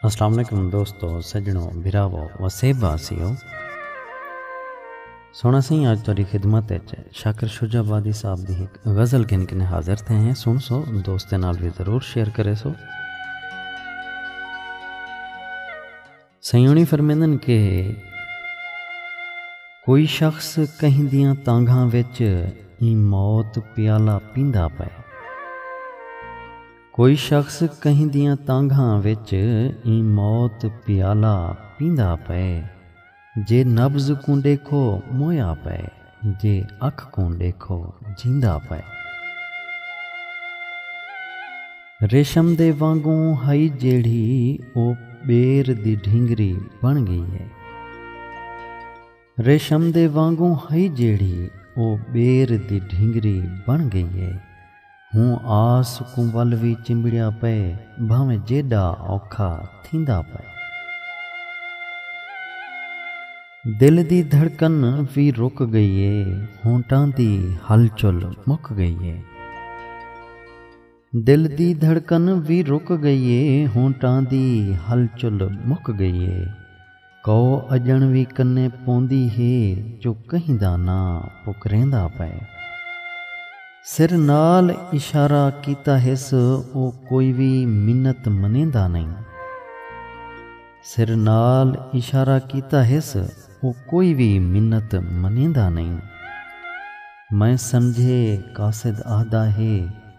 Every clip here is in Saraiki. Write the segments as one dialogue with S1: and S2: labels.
S1: السلام علیکم دوستو سجنو بھراو وسیب واسیو سونا سائیں اج تہاڈی خدمت وچ شاکر شجاع آبادی صاحب دی ایک غزل گھن کے حاضر تھے ہیں سن سو دوستاں نال بھی ضرور شیئر کرے سو سیانی فرمیندن کہ کوئی شخص کہیں دیاں تانگھاں وچ ایں موت پیالہ پیندا پئے کوئی شخص کہیں دیاں تانگھاں وچ ایں موت پیالہ پیندا پئے جے نبض کوں ڈیکھو مویا پئے جے اکھ کوں ݙیکھو جیندا پئے۔ ریشم دے وانگوں ہئی جیڑھی او ٻیر دی ڈھینگری بݨ ڳئی ہے۔ ریشم دے وانگوں ہئی جیڑھی او ٻیر دی ڈھینگری بݨ ڳئی ہے۔ ہوں آس کوں ول وی چمبڑیا پئے بھانویں جیڈا اوکھا تھیندا پئے۔ دل دی دھڑکن وی رک گئی اے ہونٹاں دی ہل چل مک گئی اے۔ دل دی دھڑکن وی رک گئی اے ہونٹاں دی ہل چل مک گئی اے۔ کئو اڄݨ وی کنے پوندی ہے جو کہیں دا ناں پکریندا پئے۔ سر نال اشارہ کیتا ہس او کوئی وی منت منیندا نئیں۔ سر نال اشارہ کیتا ہس او کوئی وی منت منیندا نئیں۔ میں سمجھے قاصد آہدا ہے۔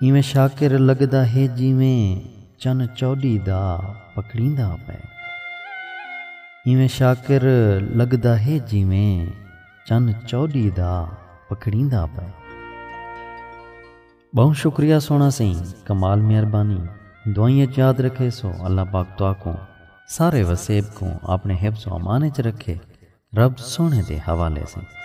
S1: ایویں شاکر لڳدا ہے جیویں چن چوݙی دا پکڑیندا پئے۔ ایویں شاکر لڳدا ہے جیویں چن چوݙی دا پکڑیندا پئے۔ ٻہوں شکریہ سوہݨا سئیں کمال مہربانی دعائیں اچ یاد رکھیسو اللہ پاک تہاکوں سارے وسیب کوں آپݨے حفظ و امان اچ رکھے رب سوہݨے دے حوالے سئیں۔